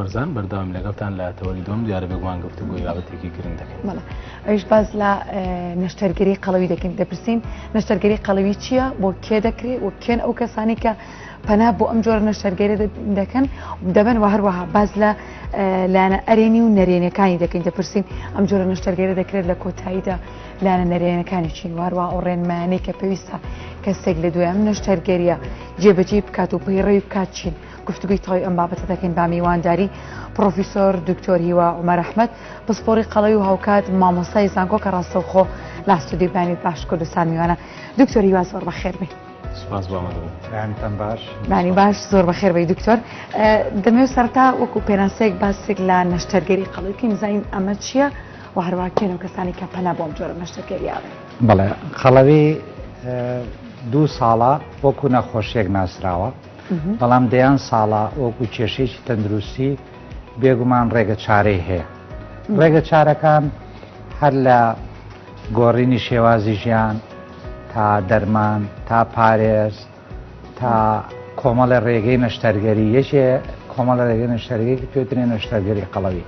بەرزان بەردەوام لەگەڵتان لە تەوەری دووەم دیارە بێگومان گفتوگۆی بابەتێکی گرنگ دەکەین بەڵێ ئەویش باز لە نەشتەرگەری قەڵەوی دەکەین دەپرسین نەشتەرگەری قەڵەوی چییە بۆ کێ دەکرێت و کێن ئەو کەسانی کە پەنا بۆ ئەم جۆرە نەشتەرگەری دەکەن دەبن و هەروەها باز لە لایەنە ئەرێنی و نەرێنەکانی دەکەین دەپرسین ئەم جۆرە نەشتەرگەری دەکرێت لە کۆتاییدا لایەنە نەرێنەکانی چین واروا ئەو ڕێنمانەی کە پێویستە کەسێک لە دوای ئەم نەشتەرگەریە جێبەجێ بکات و پەیڕەوی بکات چین گفتوگوی تەواوی ئەم بابەتە دەکەین با میوانداری پرۆفیسۆر دکتۆر هیوا عمر ئەحمد پسپۆری قەڵەوی و هاوکات مامۆستای زانکۆ کە ڕاستەوخۆ لاستودی بانی باش کوردستان میوانە دکتۆر هیوا زۆر بەخێر بێ بانی باش زۆر بەخێر بی دکتۆر دەمێ سەرتا وەکو پێناسەیەک باسێک لە نەشتەرگەری قەڵەوکی نزانین ئەمە چییە و هەرواکێن و کەسانی کە پەنا بۆم جۆرە نەشتەرگەریاوێ بەڵێ قەڵەوی دوو ساڵە وەکو نەخۆشیێک ناسراوە بەڵام دەیان ساڵە وەکو کێشەیەکی تەندروستی بێگومان ڕێگە چارەی هەیە ڕێگە چارەکان هەر لە گۆڕینی شێوازی ژیان تا دەرمان تا پارێز تا کۆمەڵە ڕێگەی نەشتەرگەری یەکێ کۆمەڵە ڕێگەی نەشتەرگەیەکی پێترێ نەشتەرگەری قەڵەوی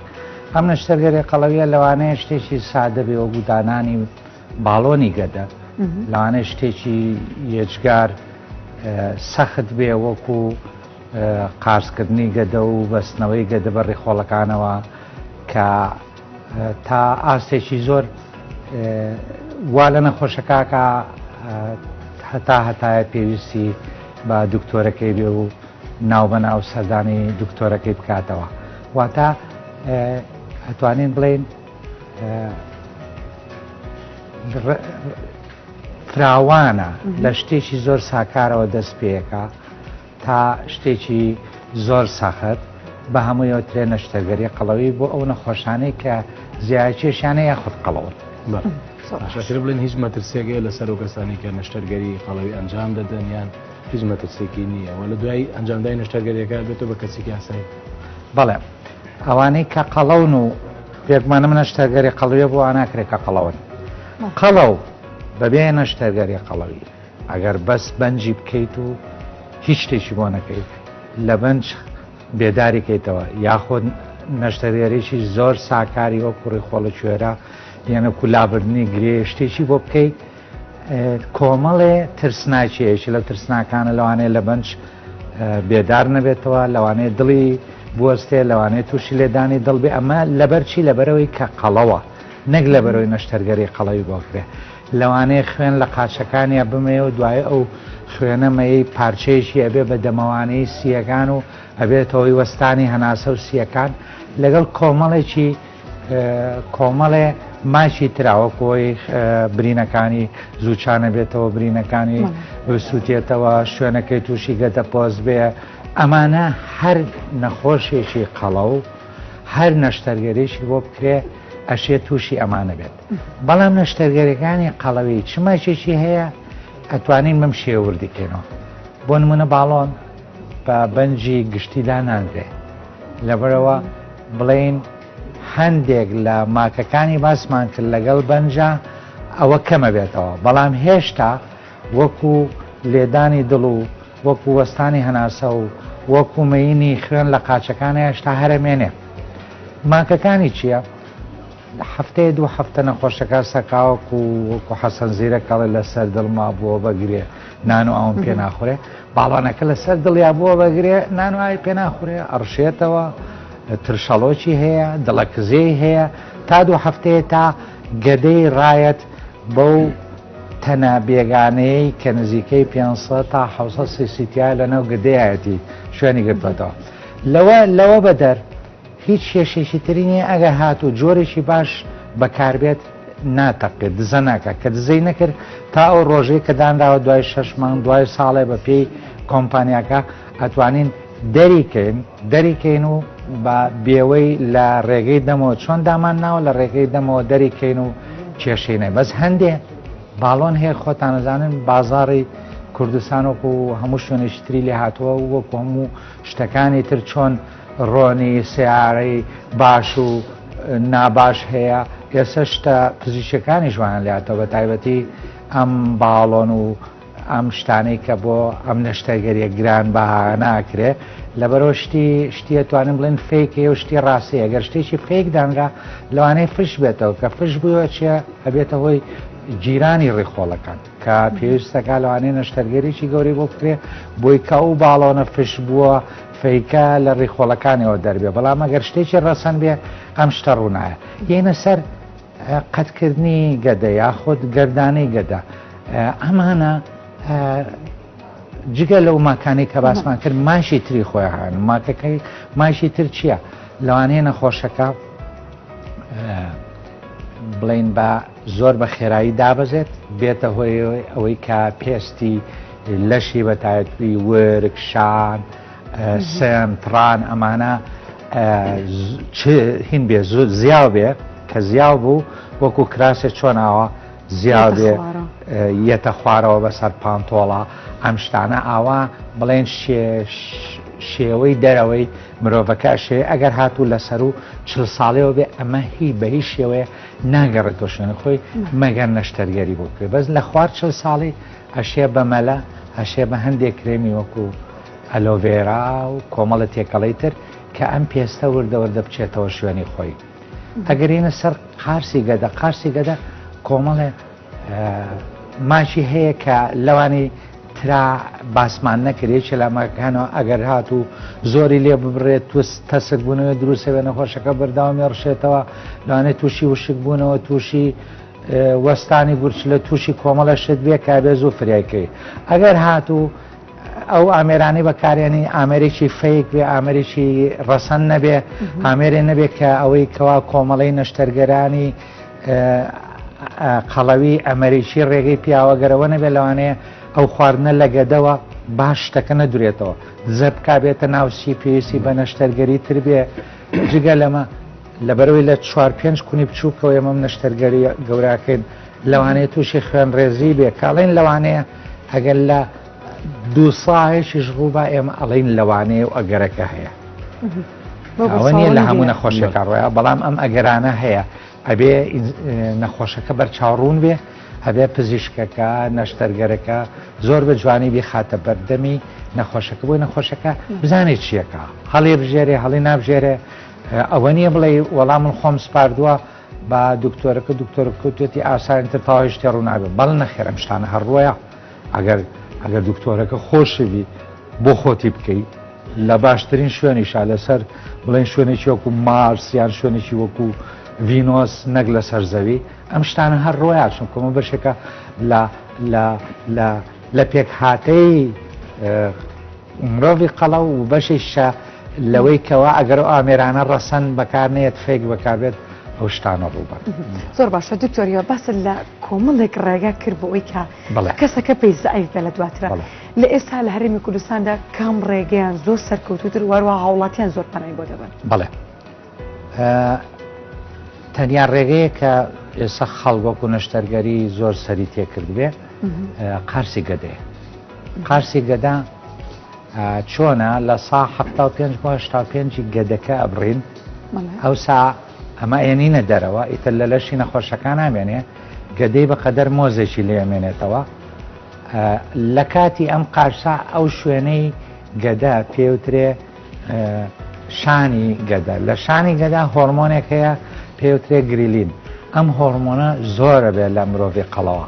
ئەم نەشتەرگەری قەڵەویە لەوانەیە شتێکی سادە بێ وەگو دانانی باڵۆنی گەدە لەوانەیە شتێکی یەجگار سەخت بێ وەکو قارسکردنی گەدە و بەستنەوەی گەدە بە ڕیخۆڵەکانەوە کە تا ئاستێکی زۆر وا لە نەخۆشەکەکە هەتا هەتایە پێویستی بە دکتۆرەکەی بێ و ناو بە ناو سەردانی دکتۆرەکەی بکاتەوە واتە ئەتوانین بڵێن فراوانە لە شتێکی زۆر ساکارەوە دەست پێەکە تا شتێکی زۆر سەخت بە هەموویەوە ترێ نەشتەگەری قەڵەوی بۆ ئەو نەخۆشانەی کە زیاچێشانە یاخود قەڵەوت شاشر بڵێن هیچ مەترسێگەی لە سەر و کەسانی کە نەشتەرگەری قەڵەوی ئەنجام دەدەن یان هیچ مەترسێکی نییە وە لە دوای ئەنجامدای نەشتەرگەریەکە بێتەوە بە کەسێکی ئاسایی بەڵێ ئەوانەی کە قەڵەون و پێکمانە منە شتەرگەری قەڵوێ بۆ ئاناکرێت کە قەڵەون قەڵەو بەبێ نەشتەرگەری قەڵەوی ئەگەر بەس بەنجی بکەیت و هیچ شتێکی بۆ نەکەیت لە بەنج بێداریکەیتەوە یاخۆ نەشتەرگەریی زۆر ساکاری وە کوڕی خۆڵە کوێرە یەنە کولابردننی گرێ شتێکی بۆ بکەیت کۆمەڵێ ترسناکیەکی لەو ترسناکانە لەوانەیە لە بەنج بێدار نەبێتەوە لەوانەیە دڵی بوەستێ لەوانەیە تووشی لێدانی دڵبێ ئەمە لەبەرچی لەبەرەوەی کە قەڵەوە نەک لە بەرەوەی نەشتەرگەری قەڵەوی بۆکرێ لەوانەیە خوێن لە قاچەکانیا بمێ و دوای ئەو خوێنەمەی پارچەیەکی ئەبێ بە دەمەوانەی سیەکان و ئەبێتەوەی وەستانی هەناسە و سیەکان لەگەڵ کۆمەڵێکی کۆمەڵێ ماچی تراوە کۆی برینەکانی زووچانە بێتەوە برینەکانی سووتێتەوە شوێنەکەی تووشی گەتە پۆست بێ ئەمانە هەر نەخۆشێکی قەڵە و هەر نەشتەرگەرێکی بۆ بکرێ ئەشێ تووشی ئەمانە بێت بەڵام نەشتەرگەرەکانی قەڵەوی چ ماچێکی هەیە ئەتوانین بم شێوردیکەینەوە بۆ نمونە باڵۆن بە بەنجی گشتیدا نانرێ لەبەرئەوە بڵێین هەندێک لە ماکەکانی باسمان کرد لەگەڵ بەنجا ئەوە کەمە بێتەوە بەڵام هێشتا وەکو لێدانی دڵ و وەکو وەستانی هەناسە و وەکو مەینی خوێن لە قاچەکان هێشتا هەرەمێنێ ماکەکانی چییە؟ هەفتەیە دوو هەفتە نەخۆشەکە سەقاوەک و وەکو حەسەن زیرەک ئەڵێ لەسەر دڵما بووە بە گرێ نان و ئاوم پێ ناخورێ باڵانەکە لەسەر دڵیا بووە بە گرێ نان و ئاوی پێ ناخورێ ئەڕشێتەوە ترشەڵۆکی هەیە دڵە کزێی هەیە تا دوو هەفتەیە تا گەدەی ڕایەت بەو تەنە بێگانەیەی کە نزیکەی 500 تا 600 سیسیتیا لەناو گدەیەتی شوێنی گرتوێتەوە لەوە لەوە بەدەر هیچ کێشەیەکی تری نییە ئەگەر هاتوو جۆرێکی باش بەکاربێت ناتەقێت دزە ناکات کە دزەی نەکرد تا ئەو ڕۆژەی کە دانراوە دوای شەش مانگ دوای ساڵێ بە پێی کۆمپانیاکە ئەتوانین دەریکەین دەریکەین و بە بێوەی لە ڕێگەی دەمەوە چۆن دامان ناوە لە ڕێگەی دەمەوە دەریکەین و کێشینە بەس هەندێ باڵۆن هەیە خۆتانەزانن بازاری کوردستان وەکو هەموو شوێنێکتری لێ هاتووە وەکو هەموو شتەکانی تر چۆن ڕۆنی سەیارەی باش و ناباش هەیە ئێستا شتە پزیشەکانیش وایان لاتەوە بە تایبەتی ئەم باڵۆن و ئەم شتانەی کە بۆ ئەم نەشتەرگەریە گران بە ناکرێ لەبەرەوە شتی شتیە توانم بڵێن فیکێ و شتی ڕاستەیە گەر شتێکی فیک دانرا لەوانەیە فش بێتەوە کە فش بووە چێ ئەبێتە هۆی جیرانی ڕیخۆڵەکان کە پێویستەکە لەوانەیە نەشتەرگەریی گەورەی بۆ بکرێ بۆی کە ئەو باڵۆنە فش بووە فەیکە لە ڕیخۆڵەکانیەوە دەربێ بەڵام ئەگەر شتێکی ڕەسەن بێ ئەم شتە ڕوونایە یەینە سەر قەتکردنی گەدە یاخود گردانەی گەدە ئەمانە جگە لەو ماکانی کە باسمان کرد ماشی تری خۆیان ماکەکەی ماشی تر چییە لەوانەیە نەخۆشەکە بڵین بە زۆر بە خێرایی دابەزێت بێتە هۆی ئەوەی کە پێستی لەشی بە تایبی ورک شان سم تڕان ئەمانە هین بێ زود زیاو بێ کە زیاو بوو وەکو کراسێ چۆناوە زیاو بێ یەتە خوارەوە بەسەر پانتۆڵە ئەم شتانە ئاوا بڵێن شێش شێوەی دەرەوەی مرۆڤەکە شێ ئەگەر هاتوو لەسەر و چل ساڵەوە بێ ئەمە هی بە هیچ شێوەیە ناگەڕێت بۆ شوێنە خۆی مەگەر نەشتەرگەری بۆ بکرێت بەس لە خوار چل ساڵی ئەشێ بە مەلە ئەشێ بە هەندێک کرێمی وەکو ئەلۆڤێرا و کۆمەڵە تێکەڵی تر کە ئەم پێستە وردەوەردە بچێتەوە شوێنی خۆی ئەگەرینە سەر قارسی گەدە قارسی گەدە کۆمەڵێ ماچی هەیە کە لەوانی ترا باسمان نەکرێ چلامەکانەوە ئەگەر هات و زۆری لێ ببرێت توس تەسک بوونەوە دروستەوێ نەخۆشەکە بەرداوامی ڕشێتەوە لەوانێت تووشی وشک بوونەوە تووشی وەستانی گورچ لە تووشی کۆمەڵە شت بێ کابێز و فرایکەی ئەگەر هات و ئەو ئامێرانی بەکارێنی ئامێرێکی فەیک بێ ئامێرێکی ڕەسەن نەبێ ئامێرێ نەبێت کە ئەوەی کەوا کۆمەڵی نەشتەرگەرانی قەڵەوی ئەمەریکی ڕێگەی پیاوە گەرەوە نەبێت لەوانەیە ئەو خواردنە لە گەدەوە باش شتەکە نەدرێتەوە زەبکا بێتە ناوسی پێویستی بە نەشتەرگەری تر بێ جگە لەمە لەبەرەوەی لە چوار پێنج کونی بچووکەوە ئێمەم نەشتەرگەری گەوراکەین لەوانەیە تووشی خوێن ڕێزی بێ کاڵێن لەوانەیە ئەگەر لە دوو ساهێکیش ڕووبا ئێمە ئەڵین لەوانەیە و ئەگەرەکە هەیە ئەوە نیە لە هەموو نەخۆشیەکە ڕۆە بەڵام ئەم ئەگەرانە هەیە ئەبێ نەخۆشەکە بەرچاو ڕوون بێ هەبێ پزیشکەکە نەشتەرگەرەکە زۆر بە جوانی بیخاتە بەردەمی نەخۆشەکە بۆی نەخۆشەکە بزانێت چیەکە هەڵێ بژێرێ هەڵی نابژێرێ ئەوە نییە بڵێ وەڵام من خۆم سپاردووە با دکتۆرەکە دکتۆرە کوتێتی ئاسانتر تاوای شتێ ڕووناگە بەڵ نەخێرم شتانە هەڕووە ئەگەر ئەگەر دکتۆرەکە خۆشوی بۆ خۆتی بکەیت لە باشترین شوێنیشا لەسەر بڵێن شوێنێکی وەکو مارسیان شوێنێکی وەکو ڤینۆس نەک لە سەرزەوی ئەم شتانە هەر ڕۆیا چون کۆمە بەشێکە لە پێک هااتەی مرۆڤی قەڵە و بەشی شە لەوەی کەوا ئەگەر ئەو ئامێرانە ڕەسەن بەکار نێت فێک بەکاربێت ئەو شتانە ڕووبەر زۆر باشە دکتۆریەوە بەسە لە کۆمەڵێک ڕێگا کرد بۆ ئەوی کە بەڵێ. کەسەکە پێی زەعیف بێ لە دواترا. بەڵێ. لە ئێستا لە هەرێمی کوردستاندا کام ڕێگەیان زۆر سەرکەوتووتر واروا هاوڵاتیان زۆر پەنای بۆ دەبەن؟ بەڵێ. تەنیا ڕێگەیە کە ئێستا خەڵ وەکو نەشتەرگەری زۆر سەری تێکردبێ قارسی گەدێ قارسی گەدا چۆنە لە سا ه پێ پێنجی گەدەکە ئەبڕین ئەو سا ئەمە ئەیەنینە دەرەوە ئیتر لە لەشی نەخۆشەکان نامێنێ گەدەی بە قەدەر مۆزێکی لێ مێنێتەوە لە کاتی ئەم قارسا ئەو شوێنەی گەدە پێوترێ شانی گەدە لە شانی گەدا هۆرمۆنێک هەیە پێوترێ گریلین ئەم هۆرمۆنە زۆرە بێت لە مرۆڤی قەڵەوە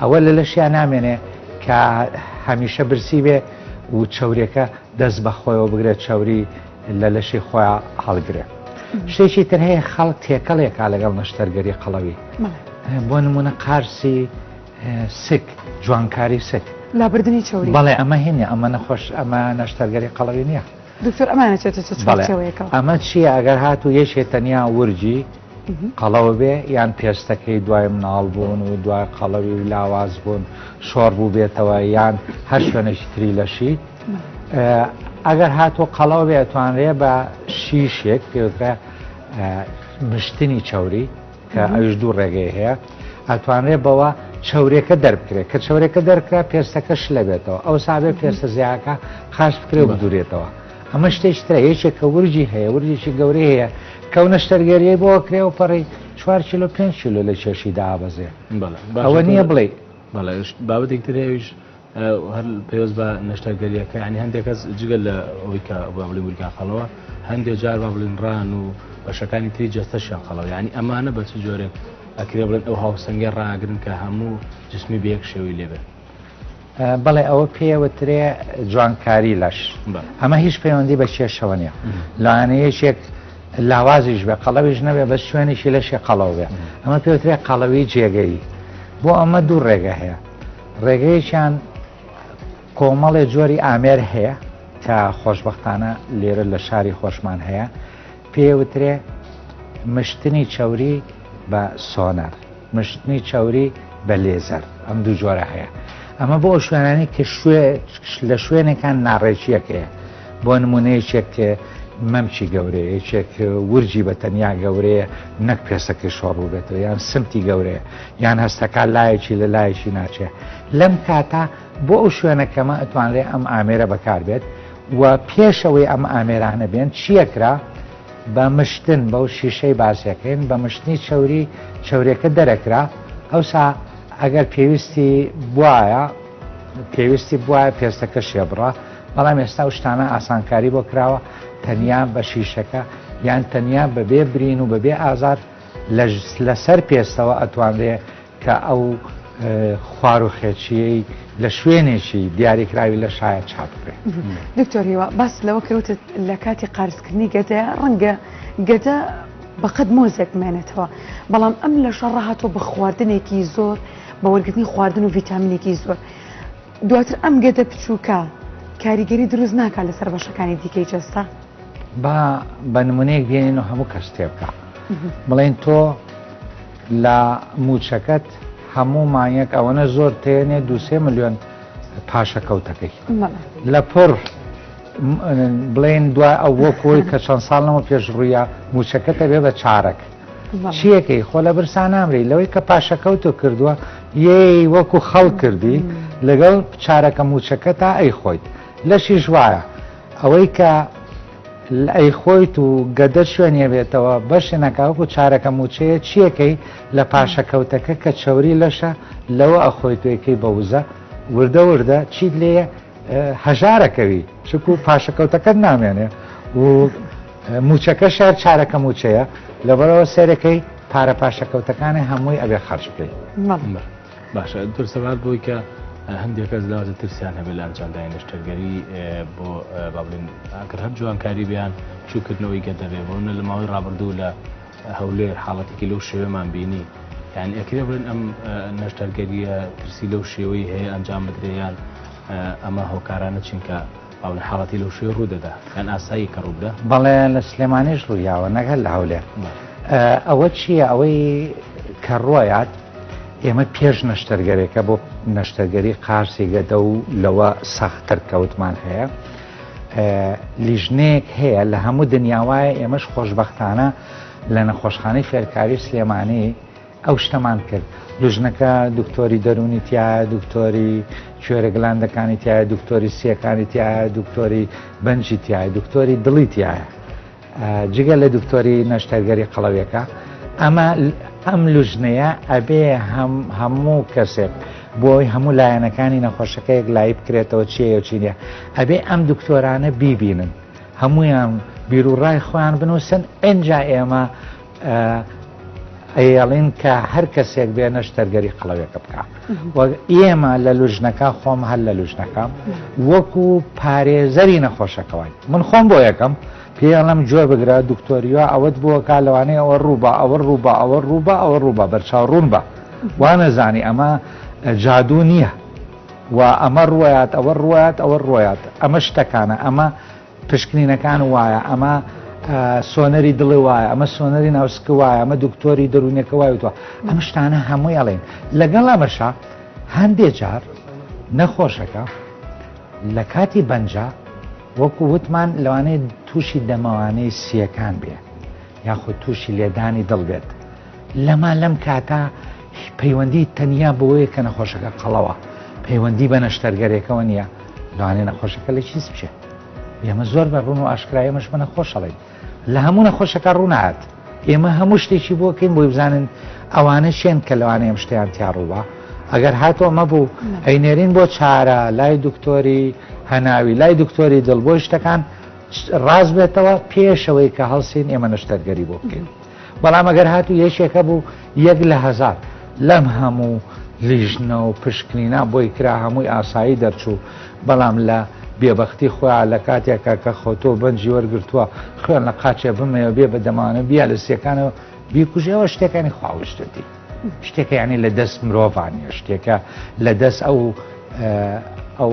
ئەوە لە لەشیا نامێنێ کە هەمیشە برسی بێ و چەورێکە دەست بە خۆیەوە بگرێت چاوری لە لەشی خۆیان هەڵگرێ شتێکی تر هەیە خەڵک تێکەڵێکا لەگەڵ نەشتەرگەری قەڵەوی بۆ نمونە قارسی سک جوانکاری سک لابردنی چوری بەڵێ ئەمە هینە ئەمە نەخۆش ئەمە نەشتەرگەری قەڵەوی نییە دکتۆر ئەمانەچێتەوەەکە ئەمە چییە ئەگەر هاتو یەکێ تەنیا ورجی قەڵەو بێ یان پێستەکەی دوای مناڵبوون و دوای قەڵەوی و لاواز بوون شۆڕ بوو بێتەوە یان هەر شوێنێکی تری لەشی ئەگەر هاتۆ قەڵەوە بێ توانرێ بە شیشێک پێوترە مشتنی چاوری کە ئەوش دوو ڕێگەی هەیە ئەتوانرێ بەوە چاورێکە دەربکرێت کە چاورێکە دەرکرا پێستەکەش لەبێتەوە ئەو سابێ پێستە زیاکە خاش بکرێ و بدورێتەوە. ئەمە شتێکی ترە یەکێک کە ورجی هەیە ورجێکی گەورەی هەیە کە و نەشتەرگەریەی بۆ کرێ و پەڕی چوار کیلو پێنج کیلو لە کێشی دابەزێ بەڵێ باشە ئەوە نییە تۆ- بڵێ بەڵێ ئەوش بابەتێک تر هەیەش هەر پێوەست بە نەشتەرگەریەکە ینی هەندێک کەس جگە لە ئەوەی کە با بڵێ ورگان خەڵەوە هەندێک جار با بڵین ڕان و بەشەکانی تری جەستەشیان خەڵەوە ینی ئەمانە بە چ جۆرێک ئەکرێ بڵێن ئەو هاوسەنگە ڕاگرن کە هەموو جسمی بە یەک شێوەی لێبێت بەڵێ ئەوە پێوەترێ جوانکاری لەش ئەمە هیچ پەیوەندی بە کێشەوە نیە لایەنەیەشێک لاوازیش بێ قەڵەویش نەبێ بە شوێنێکی لەشێ قەڵەو بێ ئەمە پێوترێ قەڵەوی جێگەی بۆ ئەمە دوو ڕێگە هەیە ڕێگەیەکیان کۆمەڵێ جۆری ئامێر هەیە کە خۆشببختانە لێرە لە شاری خۆشمان هەیە پێوترێ مشتنی چوری بە سۆنەر مشتنی چەوری بە لێزەر ئەم دوو جۆرە هەیە ئەمە بۆ شوێنانی کە شوێ لە شوێنێکان ناڕێکیەک هەیە بۆ نمونەیەکێک مەمکی گەورەیە یەکێک ورجی بە تەنیا گەورەیە نەک پێسەکەی شۆڕوو بێتەوە یان سمتی گەورەیە یان هەستەکە لایەکی لە لایەکی ناچێت لەم کاتە بۆ ئەو شوێنەکەمە ئەتوانرێ ئەم ئامێرە بەکاربێت و پێشەوەی ئەم ئامێرانە بێن چیەکرا بە مشتن بەو شیشەی باسیەکەین بە مشتنی چەوری چەورێکە دەرەکرا ئەوسا ئەگەر پێویستی بواە پێویستی بواە پێستەکە شێبڕە بەڵام ئێستا شتانە ئاسانکاری بۆ کراوە تەنیا بە شیشەکە یان تەنیا بەبێ برین و بەبێ ئازار لەسەر پێستەوە ئەتوانرێ کە ئەو خوار و خێچییەی لە شوێنێکی دیاریکراوی لەشایە چاپ بکرێت. دکتۆر هیوا باست لەوە کردت لە کاتی قارسکردنی گەدەیە ڕەنگە گەدە بەقەد مۆزێک بمێنێتەوە بەڵام ئەم لەشە ڕاهاتۆ بە خواردنێکی زۆر بە وەرگرتنی خواردن و ڤیتامینێکی زۆر دواتر ئەم گەدە بچووکە کاریگەری دروست ناکات لەسەر بەشەکانی دیکەی جەستە با بە نمونەیەک بێنین و هەموو کەس تێبگە بڵێن تۆ لە موچەکەت هەموو مانگێک ئەوەنە زۆر تێنێ دو سێ ملیۆن پاشەکەوتەکەی لە پڕ بڵێن دو ئەو بۆ کۆی کە چەند ساڵ نەمە پێش ڕوویە موچەکەتە بێ بە چارەک چیەکەی خۆ لە برسا نامری لەوەی کە پاشەکەوت و کردووە یەی وەکو خەڵ کردی لەگەڵ چارەکە موچەکە تا ئەی خۆیت لەشیش وایە ئەوەی کە لئ خۆیت و گەدە شوێن یەبێتەوە بەشێ نەکا وەکو چارەکە موچەیە چیەکەی لە پاشە کەوتەکە کە چەوری لەشە لەوە ئەخۆیت و ئەکەی بە وزە وردە وردە چیت لێیە هەژارەکەوی چکو پاشە کەوتەکەت نامێنێ و موچەکە شار چارەکە موچەیە لەبەرەوە سێرەکەی پارە پاشە کەوتەکانی هەمووی ئەبێ خەرج بکەی مەڵێ. باشە دکتۆر سەبارەت بەوەی کە هەندێک کەس لەوە ترسیان هەبێت لە ئەنجامدانی نەشتەرگەری بۆ با بڵێن ئەگەر هەر جوانکاری بیان چووکردنەوەی گەدە بێ بۆنە لە ماوەی ڕابردوو لە هەولێر حاڵەتێکی لەو شێوەمان بینی یان ئەکرێ بڵێن ئەم نەشتەرگەریە ترسی لەو شێوەی هەیە ئەنجام بدرێیان ئەمە هۆکارانە چینکە ئاو لە حاڵەتی لەو شوێ ڕوو دەدا یان ئاسایی کە ڕوو بدا؟ بەڵێ لە سلێمانیش ڕوویاوە نەک هەر لە هەولێر ئەوە چییە ئەوەی کە ڕۆیات ئێمە پێش نەشتەرگەرێکە بۆ نەشتەرگەری قارسی گەدە و لەوە سەختتر کەوتمان هەیە لیژنێک هەیە لە هەموو دنیاوایە ئێمەش خۆشببختانە لە نەخۆشخانەی فێرکاری سلێمانی ئەو شتەمان کرد لوژنەکە دکتۆری دەرونی تایە دکتۆری کوێرە گلاندەکانی تایە دکتۆری سیەکانی تایە دکتۆری بەنجی تایە دکتۆری دڵی تایە جگە لە دکتۆری نەشتەرگەری قەڵەوێکە ئەمە ئەم لوژنەیە ئەبێ هەموو کەسێک بۆی هەموو لایەنەکانی نەخۆشەکەیەک لای بکرێتەوە چیە چینە ئەبێ ئەم دکتۆرانە بیبینن هەمویان بیرو ڕای خۆیان بنووسن ئەجا ئێمە ئەیەڵین کە هەر کەسێک بێ نەشتەرگەری قڵەوێکە بکە ئێمە لە لوژنەکە خۆم هەر لە لوژنەکەم وەکو پارێزەری نەخۆشەکەوان من خۆم بۆ یەکەم پێڵم جۆ بگرە دکتۆریوە ئەوەت بووەکە لەوانەیە ئەوە ڕووبە ئەوە ڕووبە ئەوە ڕووبە ئەوە ڕووبە بەرچاو ڕوون بە وانەزانی ئەمە جادو نییە و ئەمە ڕوات ئەوە ڕوات ئەوە ڕوات ئەمە شتەکانە ئەمە پشکنینەکان وایە ئەمە سۆنەری دڵێ وایە ئەمە سۆنەری ناوسکە وایە ئەمە دکتۆری دەروونەکە وای وتوە ئەم شتانە هەمووی ئەڵێن لەگەڵ ئەمەشە هەندێ جار نەخۆشەکە لە کاتی بەنجا وەکو وتمان لەوانەیە تووشی دەمەوانەی سیەکان بێ یاخود تووشی لێدانی دڵ بێت لەما لەم کاتە پەیوەندی تەنیا بۆیە کە نەخۆشەکە قەڵەوە پەیوەندی بە نەشتەرگەرێکەوە نییە دوانێ نەخۆشەکە لە چیز بچێت ئێمە زۆر بە ڕون و ئاشکرایەمەش منە خۆشەڵێن لە هەموو نەخۆشەکە ڕوونات ئێمە هەموو شتێکی بۆکەین بۆی بزانن ئەوانە شێن کە لەوانە ئەم شتیان تیاڕووە ئەگەر هاتۆ ئەمە بوو ئەینێرین بۆ چارە لای دکتۆری هەناوی لای دکتۆری دڵ بۆی شتەکان ڕاست بێتەوە پێشەوەی کە هەڵسین ئێمە نەشتەرگەری بۆ بکەین. بەڵام ئەگەر هاتوو یەکێکە بوو یەک لە هەزار لەم هەموو لیژنە و پشکنینا بۆی کرا هەمووی ئاسایی دەرچوو بەڵام لە بێبختی خۆیان لە کاتێکە کە خۆتۆ بەنجی وەرگتووە خوێن لە قاچێ بمەوە بێ بە دەمانە بیا لە سیەکانەوە بیکوژەوە شتەکانی خواوشتتی شتێکە ینی لە دەست مرۆڤانە شتێکە لە دەست ئەو ئەو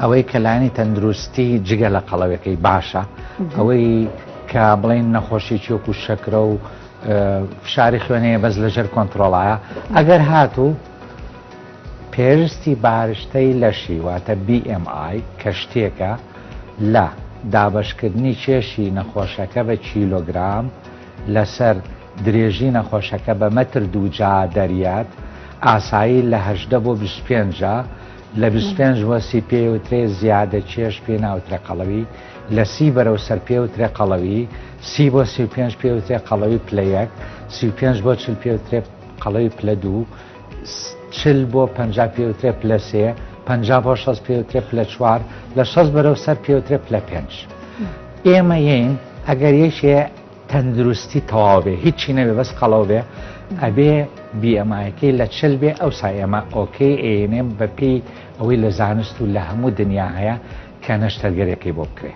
ئەوەی کە لایەنی تەندروستی جگە لە قەڵەوەکەی باشە ئەوەی کە بڵین نەخۆشی چۆک و شەکرە و فشاری خوێنەیە بەس لەژێر کۆنتترۆڵایە ئەگەر هاتوو پێرستی بارشتەی لەشی واتە BMI کە شتێکە لە دابشکردنی کێشی نەخۆشەکە بە کیلۆگرام لەسەر درێژی نەخۆشەکە بە مەتر دووجا دەریات ئاسایی لە هەدە بۆ 25 لە بیست و پێنج مۆسی پێیوترێ زیادە کێش پێی ناوترێ قەڵەوی، لە سی بەرەو سەر پێوترێ قەڵەوی، سی بۆ سی و پێنج پێوترێ قەڵەوی پلە یەک، سی و پێنج بۆ چل پێوترێ قەڵەوی پلە دوو، چل بۆ پەنجا پێوترێ پلە سێ، پەنجا بۆ شەست پێوترێ پلە چوار، لە شەست بەرەو سەر پێوترێ پلە پێنج. ئێمە یەین ئەگەر یەکێ تەندروستی تەواو بێ هیچی نەبێ بەس قەڵەو بێ ئەبێ بیئەمایەکەی لە چل بێ ئەو سایەمە ئۆکەی ئەێنێم بەپێی ئەوەی لە زانست و لە هەموو دنیا هەیە کە نەشتەرگەرەکەی بۆ بکرێ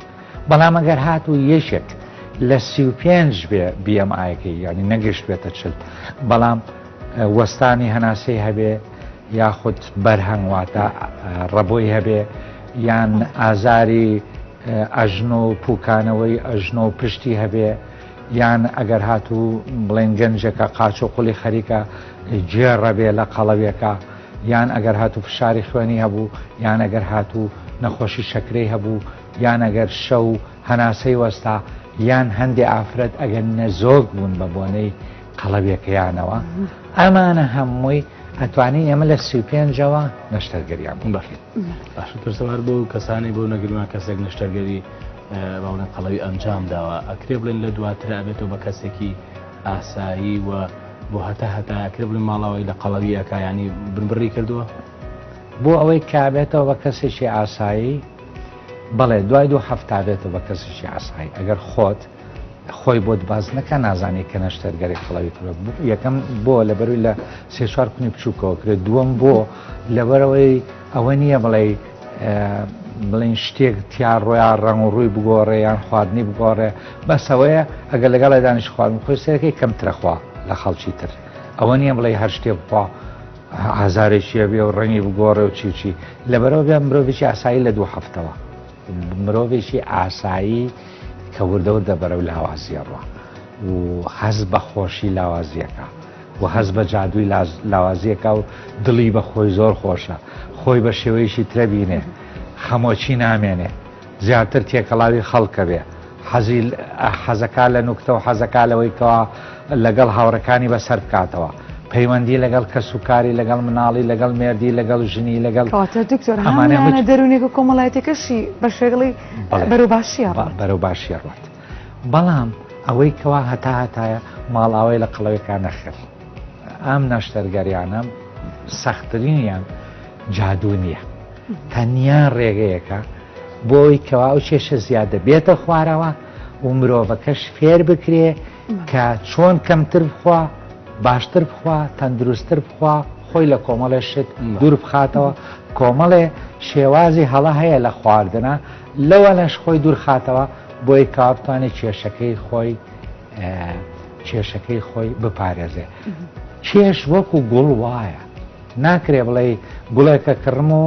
بەڵام ئەگەر هات و یەکێک لە سی و پێنج بێ بیەم ئاەکەی ینی نەگەشت بێتە چل بەڵام وەستانی هەناسەی هەبێ یاخود بەرهەنگواتە ڕەبۆی هەبێ یان ئازاری ئەژنۆ و پوکانەوەی ئەژنۆ و پشتی هەبێ یان ئەگەر هاتوو بڵێن گەنجەکە قاچ و قولی خەریکە گێڕەبێ لە قەڵەوێکە یان ئەگەر هاتوو فشاری خوێنی هەبوو یان ئەگەر هاتوو نەخۆشی شەکرەی هەبوو یان ئەگەر شەو هەناسەی وەستا یان هەندێ ئافرەت ئەگەر نەزۆک بوون بە بۆنەی قەڵەویەکەیانەوە ئەمانە هەمووی ئەتوانی ئێمە لە سی پێنجەوە نەشتەرگەریان بڵێت باش پرسەوار بۆ کەسانی بۆ نەگرمان کەسێک نەشتەرگەری باڵە قەڵەوی ئەنجام داوە ئەکرێ بڵێن لە دواتر ئەبێتەوە بە کەسێکی ئاسایی و بۆ هەتا هەتاکرێ بڵێن ماڵاوی لە قەڵەوی ئەکایانی بنبڕی کردووە بۆ ئەوەی کابێتەوە بە کەسێکی ئاسایی بەڵێ دوای دوو هەفتابێتەوە بە کەسێکی ئاسایی ئەگەر خۆت خۆی بۆت باس نەکە نازانێ کە نەشتەرگەری قەڵەوی کرۆ یەکەم بۆ لە بەروی لە سێ چوار کونی بچووکەوە کرێت دووەم بۆ لەبەرەوەی ئەوە نییە بڵێ بڵین شتێک تیا ڕۆیا ڕەنگ و ڕووی بگۆڕێ یان خواردنی بگۆڕێ بەسەوەیە ئەگەر لەگەڵ دانیش خواردن خۆی سەرەکەی کەمترەخوا لە خەڵکی تر ئەوە نییە بڵێ هەر شتێ بخوا ئازارێکیە بێ و ڕەنگی بگۆڕێ و چیچی لەبەرەوە بێ مرۆڤێکی ئاسایی لە دوو هەفتەوە مرۆڤێکی ئاسایی کە وردە وردە بەرەو لاوازیە ڕوا و هەز بە خۆشی لاوازیەکە و هەز بە جادووی لاوازیەکە و دڵی بە خۆی زۆر خۆشە خۆی بە شێوەیەشی ترەبینێ خەمۆکی نامێنێ زیاتر تێکەڵاوی خەڵکە بێ حەزی حەزەکا لە نوکتە و حەزەکا لەوەی کەوا لەگەڵ هاوڕەکانی بەسەر بکاتەوە. پەیوەندی لەگەڵ کەس و کاری لەگەڵ مناڵی لەگەڵ مێردی لەگەڵ ژنی لەگەڵ کەواتە دکتۆر ئەمانە هەموویانە هیچ- دەروونێک و کۆمەڵایەتیەکەشی بە شێگڵی بەڵێ. بەرەو باشیە ڕوات. بەرەو باشی ڕات بەڵام ئەوەی کەوا هەتا هەتایە ماڵاوای لە قەڵەوێکا نەخر ئەم نەشتەرگەریانە سەختترینیان جادوو نییە تەنیا ڕێگەیەکە بۆی کەوا ئەو کێشە زیادە بێتە خوارەوە و مرۆڤەکەش فێر بکرێ کە چۆن کەمتر بخوا باشتر بخوا تەندروستتر بخوا خۆی لە کۆمەڵێ شت دوور بخاتەوە کۆمەڵێ شێوازی هەڵە هەیە لە خواردنە لەوە لەش خۆی دوورخاتەوە بۆی کاپتانی کێشەکەی خۆی کێشەکەی خۆی بپارێزێ کێش وەکو گوڵ وایە ناکرێ بڵێی گوڵێکە کڕم و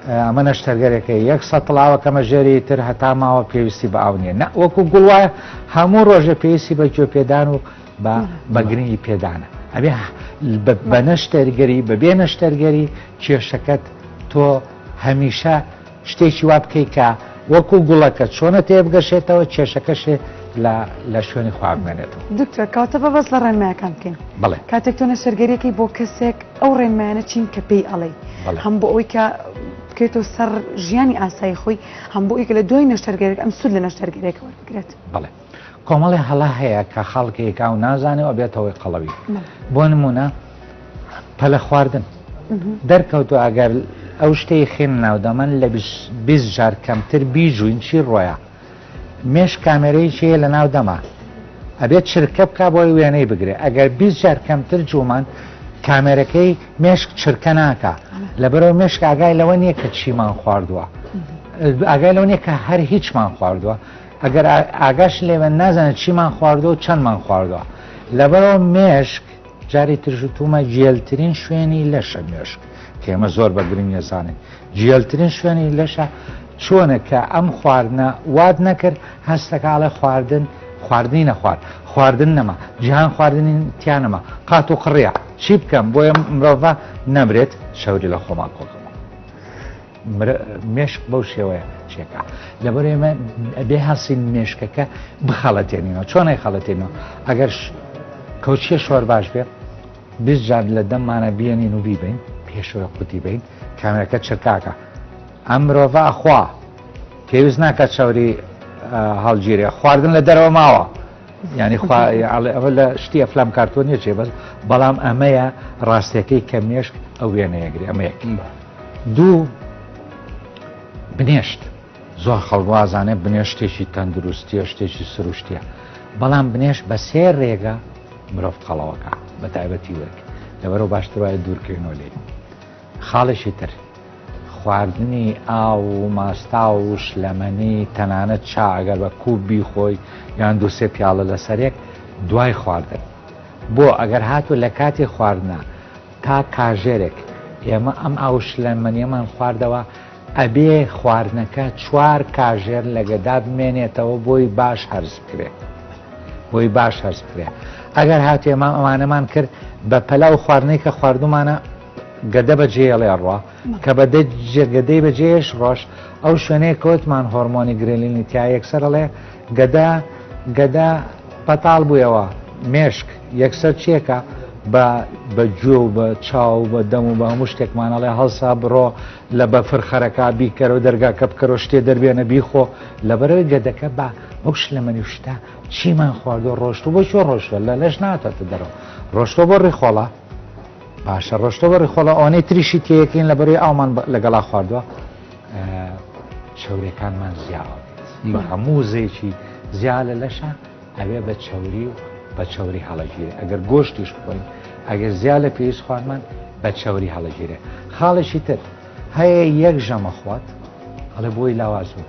ئەمە نەشتەرگەرێکە یەک سەتڵ ئاوە کەمە ژێری تر هەتا ماوە پێویستی بە ئاو نیە نە وەکو گوڵ وایە هەموو ڕۆژێ پێویستی بە گوێ پێدان و بە بەگرنگی پێدانە ئەبێ بە نەشتەرگەری بەبێ نەشتەرگەری کێشەکەت تۆ هەمیشە شتێکی وا بکەی کە وەکو گوڵەکە چۆنە تێبگەشێتەوە کێشەکەش لە شوێنی خوا بمێنێتەوە. دکتۆر کەواتە با باس لە ڕێنمایەکان بکەین. بەڵێ. کاتێک تۆ نەشتەرگەریەکەی بۆ کەسێک ئەو ڕێنمایانە چین کە پێی ئەڵێی. بەڵێ. هەم بۆ ئەوی کە بکەوێتەوە سەر ژیانی ئاسایی خۆی، هەم بۆ ئەوی کە لە دوای نەشتەرگەریەکە ئەم سوود لە نەشتەرگەریەکە وەربگرێت. بەڵێ. کۆمەڵێ هەڵە هەیە کە خەڵکێک ئاو نازانێ و بێتەوەی قەڵەوی بۆ نمونە پەلە خواردن دەرکەوتو ئەگەر ئەو شتەی خێن ناودەمەن لە جار کەمتر بیجوین چی ڕۆیە مێش کامێرەی چێ لە ناو دەما ئەبێت چرکە بک بۆی وێنەی بگرێت ئەگەر جار کەمتر جومان کامێرەکەی مێشک چرکە ناکە لەبەرەوە مێشک ئاگای لەوە نییە کە چیمان خواردووە ئاگای لەو نیە کە هەر هیچمان خواردووە ئەگەر ئاگاش لێبێت نازانێت چیمان خواردووە و چەندمان خواردووە لەبەرەوە مێشک جاری ترش و تومە جێلترین شوێنی لەشە مێشک کێمە زۆر بە گرنگ نێزانێت جێلترین شوێنی لەشە چۆنە کە ئەم خواردنە واد نەکرد هەستەکاڵە خواردن خواردنی نەخوارد خواردن نەما جیهان خواردنی تیانەما قات و قڕە چی بکەم بۆیە مرۆڤ نەمرێت شەوری لە خۆمان کۆکەم مێشک بەو شێوەیە چێکە لەبەر ئێمە ئەبێ هەسین مێشکەکە بخەڵەتێنینەوە چۆنێک خەڵەتێنەوە ئەگەر کەوچیە شوار باش بێت بزجار لە دەممانە بیێنین و بیبین پێشەوە قوتی بین کامێرەکە چرکاکە ئەم مرۆڤ ئەخوا پێویست ناکە چاوری هەڵگیرێ خواردن لە دەرەوە ماوە یعنی خوا ئەڵێ ئەوە لە شتی ئەفلام کارتۆ نیە چێ بەس بەڵام ئەمەیە ڕاستەکەی کە مێشک ئەو وێنەیەگری ئەمەیەک دوو بنێشت زۆر خەڵوازانێ بنێشتێکی تەندروستیە شتێکی سروشتیە بەڵام بنێش بە سێ ڕێگە مرۆڤ خەڵەوەکە بە تایبەتی وەک لەبەرەوە باشتر وایە دوورکەینەوە لێ خاڵێکی تر، خواردنی ئاو و ماستاو و شلەمەنی، تەنانەت چا ئەگەر بە کوپ بیخۆی یان دوو سێ پیاڵە لەسەرێک دوای خواردن. بۆ ئەگەر هاتوو لە کاتی خواردنا تا کاژێرێک ئێمە ئەم ئاو و شلەمەنیەمان خواردەوە، ئەبێ خواردنەکە چوار کاژێر لە گەدا بمێنێتەوە بۆی باش هەرس بکرێت بۆی باش هەرس بکرێت ئەگەر هاتێمە ئەوانەمان کرد بە پەلا و خواردنەی کە خواردومانە گەدە بە جێڵێ ڕوە کە بە جێگەدەی بە جێش ڕۆژ ئەو شوێنەیە کەوتمان هۆرمۆنی گرێلینی تیا یەکسەرڵێ گەدا گەدا پەتاڵ بوویەوە مێشک یەکسەر چێکە بە بە گوێ و بە چاو بە دەم و بە هەموو شتێکمانەڵێ هەڵسا بڕۆ لە بەفر خەرەکە بیکەرەوە دەرگاکە بکەرەوە شتێ دەربێنە بیخۆ لەبەرەوەی گەدەکە با ئەو شلەمەنی و شتە چیمان خواردو ڕۆشتو بۆ شو ڕۆشتوە لە لەش ناتەتە دەرەوە ڕۆشتۆ بۆ ڕیخۆڵە باشە ڕۆشتۆ بۆ ڕیخۆڵە ئەوەی تریشی تێەکەین لە بەروی ئاومان لەگەڵا خواردووە چاورەکانمان زیاوە بە هەموو زێکی زیا لە لەشە ئەبێ بە چەوری و بە چەوری هەڵەگیرێ ئەگەر گۆشتیش بخۆین ئەگەر زیاد لە پێویست خوارمان بە چەوری هەڵەگیرێ خاڵێکی تر هەیە یەک ژەمە خوات ئەڵێ بۆی لاواز بوو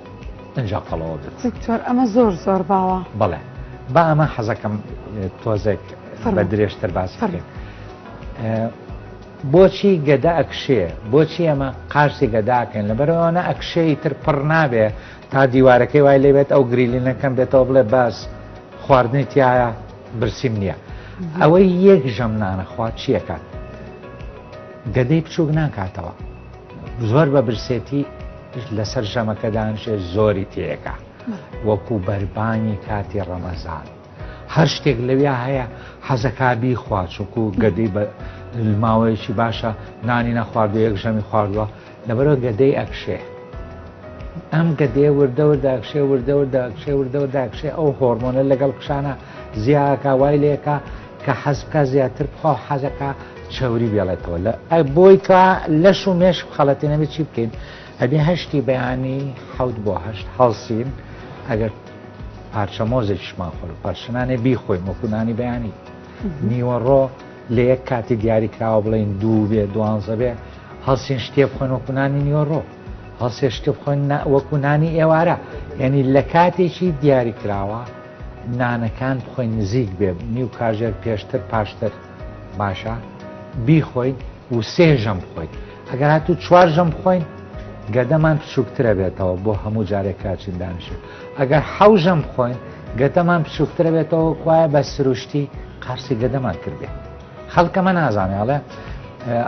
ئەجا قەڵەوە بێت دکتۆر ئەمە زۆر زۆر باوە بەڵێ با ئەمە حەزەکەم تۆزێک بە درێژتر باس فەرێت بۆچی گەدە ئەکشێ بۆچی ئەمە قارسی گەداکەن لەبەرەوەوانە ئەکشەی تر پڕ نابێ تا دیوارەکەی وای لێ بێت ئەو گریلینە کەم بێتەوە بڵێ بەس خواردنی تایە برسیم نییە ئەوەی یەک ژەم نانەخوا چیەکات گەدەی بچووک ناکاتەوە زۆر بە برسێتی لەسەر ژەمەکەدانشێ زۆری تێەکە وەکو بەربانی کاتی ڕەمەزان هەر شتێک لەویا هەیە حەزەکبی خواچووک و گەدەی بە ماوەیەکی باشە نانی نەخواردو یەک ژەمی خواردووە لەبەرئەوە گەدەی ئەکشێ ئەم گەدەیە وردە وردە ئەکشێ وردە وردە ئەکشێ وردە وردە ئەکشێ ئەو هۆرمۆنە لەگەڵ کشانە زیاکە وای لێکە کە حەزکە زیاتر بخوا حەزەکە چەوری بێڵێتەوە لە بۆی کە لەش و مێش خەڵەتی نەبێت چی بکەین ئەبێ هەشتی بەیانی حەوت بۆ هەشت هەڵسین ئەگەر پارچە مۆزێکیشمان خۆر پەرشنانێ بیخۆین وەکوونانی بەیانی نیوەڕۆ لە یەک کاتی دیاری کراوە بڵێن دوو بێ دوانزە بێ هەڵسین شتێ بخۆن وەکوونانی نیوەڕۆ هەڵسێ شتە بخۆن وەکوونانی ئێوارە یعنی لە کاتێکی دیاری کراوە نانەکان بخۆین نزیک بێ نیو کاژێر پێشتر پاشتر باشە بیخۆین و سێ ژەم بخۆین ئەگەر هاتوو چوار ژەم بخۆین گەدەمان بچووکترە بێتەوە بۆ هەموو جارێک کاچین دانیشێت ئەگەر حەوژەم بخۆین گەدەمان بچووکترە بێتەوە کوایە بە سروشتی قارسی گەدەمان کردێت خەڵکەمە نازانێ ئەڵێ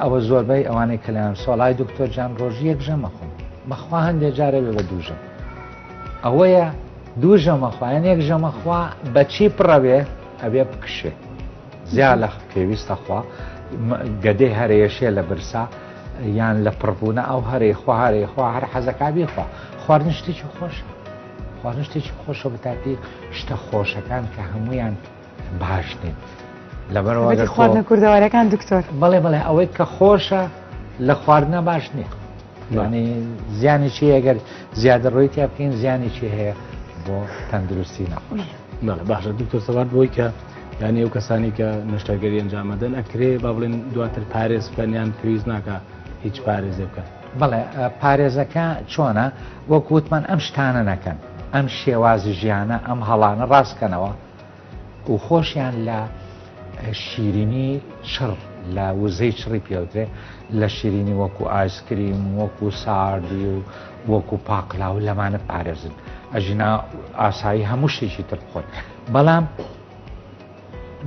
ئەوە زۆربەی ئەوانەی کەلیان سۆڵای دکتۆر جان ڕۆژی یەک ژەمە خۆم مەخوا هەندێک جارە بێ بە دووژم ئەوەیە دوو ژەمە خوایان یەک ژەمە خوا بەچی پڕەوێ ئەبێ بکشێ زیا لە پێویستە خوا گەدەی هەرەیەشێ لە برسا یان لە پڕبوونە ئەو هەرەی خوا هەرەی خوا هەر حەزەکە بیخوا خواردن شتێکی خۆشە خواردن شتێکی خۆشە بەتاتی شتە خۆشەکان کە هەمویان باش نیت لەبەرەوە خواردنە کوردەوارەکان دکتۆر بەڵێ بەڵێ ئەوەی کە خۆشە لە خواردنە باش نییە یعنی زیانی چی ئەگەر زیادە ڕۆی تیا بکەین زیانی چی هەیە بۆ تەندروستی نەخۆش ناڵە باشە دکتۆر سەوات بۆی کە یان ئەو کەسانی کە نشتەرگەری ئەنجامەدەن ئەکرێ با بڵێن دواتر پارێز بکەنیان پێویست ناکە هیچ پارێزێ بکەن بڵێ پارێزەکە چۆنە وەکووتمان ئەم شتانە نەکەن ئەم شێوازی ژیانە ئەم هەڵانە ڕاستکەنەوە و خۆشیان لە شیرینی چڕ لە وزەی چڕی پێوترێ لە شیرینی وەکو ئایسکریم وەکو ساردی و وەکو پاقلا و لەمانە پارێزن ئەژینا ئاسایی هەموو شتێکی تر بخۆن بەڵام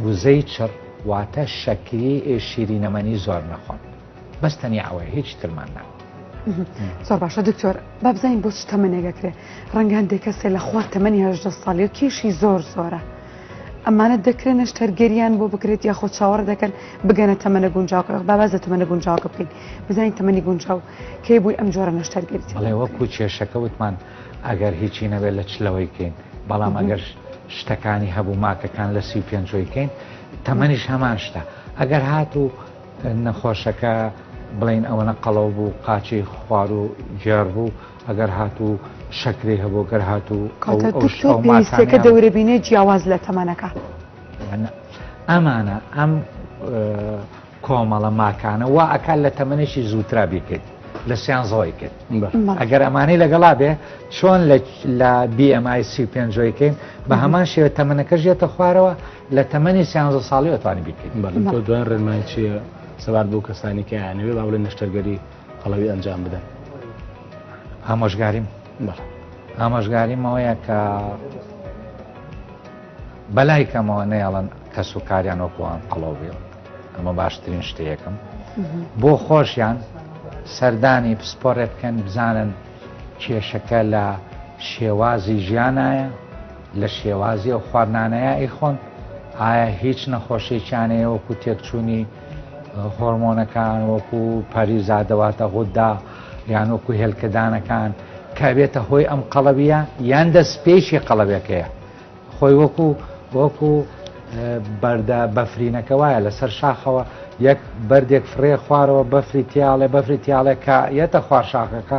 وزەی چڕ واتە شەکری شیرینەمەنی زۆر نەخۆن بەس تەنیا ئەوەیە هیچ ترمان نا. زۆر باشە دکتۆر بابزانین بۆ چ تەمەنێگەکرێ ڕەنگان دێکەسێ لە خوار تەمەنی هەژدە ساڵی و کێشی زۆر زۆرە. ئەمانە دەکرێن نەشتەرگەریان بۆ بکرێت یا خۆ چاوەڕ دەکەن بگەنە تەمەە گونجاوکە باباز لە تەمەە گونجاوکە بکەین بزانین تەمەنی گونجاو کەی بووی ئەم جۆرە نەشتەرگەریت لێ وەکو کێشەکە وتمان ئەگەر هیچی نەبێت لە چلەوەی کەین بەڵام ئەگەر شتەکانی هەبوو ماکەکان لە سی و پێنجۆی کەین تەمەنیش هەمان شتە ئەگەر هاتوو نەخۆشەکە بڵێین ئەوەنە قەڵەو بوو قاچی خوار و گێڕ بوو ئەگەر هاتوو شەکری هەبوو گەر هاتوو پێویستەکە دەورەبینێ جیاواز لە تەمەنەکە ئەمانە ئەم کۆمەڵە ماکانە وا ئەکات لە تەمەێکی زووترا بیکرد لە سیان زۆی کرد ئەگەر ئەمانەی لەگەڵا بێ چۆن لە BMI سی پێنجۆیکەین بە هەمان شێوە تەمەەکە ژێتە خوارەوە لە تەمەنی سیانزە ساڵیەوە توانی بیکەیت. بەڵێ تۆ دوای ڕێنمایی چییە سەبارەت بەو کەسانی کە ئەیانەوێت با بڵێن نەشتەرگەری قەڵەوی ئەنجام بدەن؟ ئامۆژگاریم بەڵێ ئامۆژگاریم ئەوەیە کە بەلای کەمەوە نەیەڵن کەس و کاریان وەکوان قەڵەو بێ ئەمە باشترین شتەیەکم بۆ خۆشیان سەردانی پسپۆرێ بکەن بزانن کێشەکە لە شێوازی ژیانایە لە شێوازی ئەو خواردنانەیە ئەیخۆن ئایا هیچ نەخۆشیێکیانەیە وەکو تێکچوونی هۆرمۆنەکان وەکو پەریزادەواتە غوددا یان وەکو هێلکەدانەکان کابێتە هۆی ئەم قەڵەویە یان دەست پێیشی قەڵەوەکەیە خۆی وەکو وەکو بەردە بەفرینەکە وایە لەسەر شاخەوە یەک بەردێک فڕێ خوارەوە بەفری تیاڵێ بەفری تیاڵێک کە یەتە خوار شاخەکە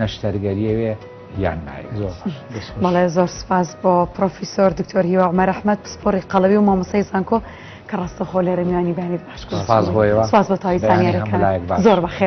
نەشتەرگەریەوێ یان ناوێ زۆر بەڵێ زۆر سپاس بۆ پرۆفیسۆر دکتۆر هیوا عمر ئەحمد پسپۆری قەڵەوی و مامۆسای زانکۆ کە ڕاستەخۆ لێرە میوانی بانی بەخش سپاس بۆیەوە سپاس بۆ تاوی زانیارەکان زۆر بەخێر